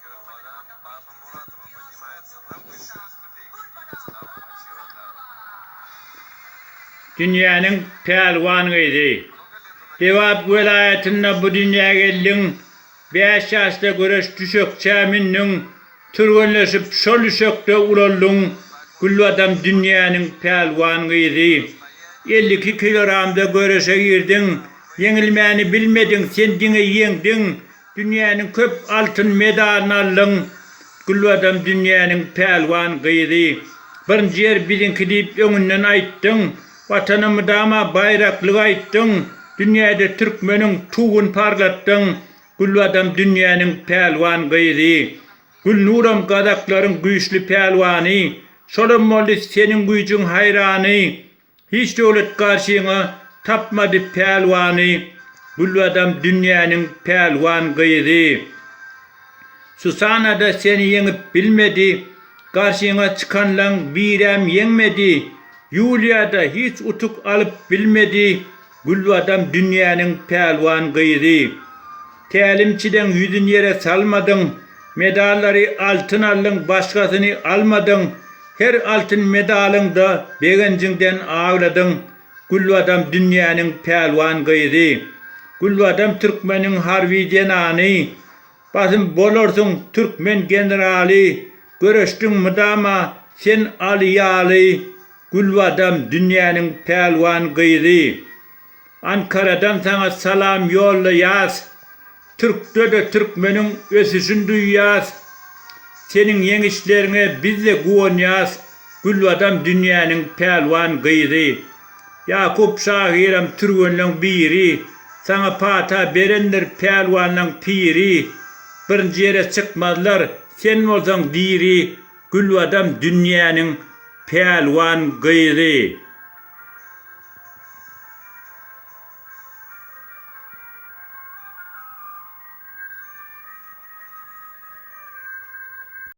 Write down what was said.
Ýurt balam, Baba Muradowa podnimaýa cyllam güýçli üsti beýik Slava Maçýoda. Dünýäniň pälwan gyzy. Lebap welaýatynda bu dünýä geldiň, bäş ýaşda göreş düşekçä mündüň, türgenleşip şol düşekde ulaldyň, Gülbadam dünýäniň pälwan gyzy. Elli iki kiloramda göreşe girdiň, ýeňilmäni bilmediň, sen diňe ýeňdiň, Dünýäniň köp altyn medalyny aldyň. Gülbadam dünýäniň pälwan gyzy. Birinji ýer biziňki diýip öňünden aýtdyň. Watana mydama baýraklygy aýtdyň. Dünýäde türkmeniň tuwuny parlatdyň. Gülbadam dünýäniň pälwan gyzy. Gülnuram gazaklaryň güýçli pälwany. Şolam boldy seniň güýjüň haýrany. Hiç döwlet garşyňa tapmady pälwany Gülbadam dünýäniň pälwan gyzy Susanada seni ýeňip bilmedi Garşyňa çykanlaň biräm ýeňmedi Ýuliýada hiç utuk alyp bilmedi Gülbadam dünýäniň pälwan gyzy. Tälimçideň ýüzün ýere salmadyň. Medallary altyn aldyň, başgasyny almadyň. Her altyn medalyňda begenjiňden agladyň. Gülbadam dünýäniň pälwan gyzy. Gülbadam türkmeniň harby zenany. Basym bolarsyň türkmen generaly Göreşdiň mydama sen Aly ýaly Gülbadam dünýäniň pälwan gyzy Ankaradan saňa salam ýollaýas Türkde-de türkmeniň ösüşin duýýas Seniň ýeňişleriňe bizde guwanýas Gülbadam dünýäniň pälwan gyzy. Ýakup şahyram türgenleň biri, Saňa pata berendir pälwanlaň piri. Birinji ýere çykmazlar, sen bolsaň diri, Gülbadam dünýäniň pälwan gyzy.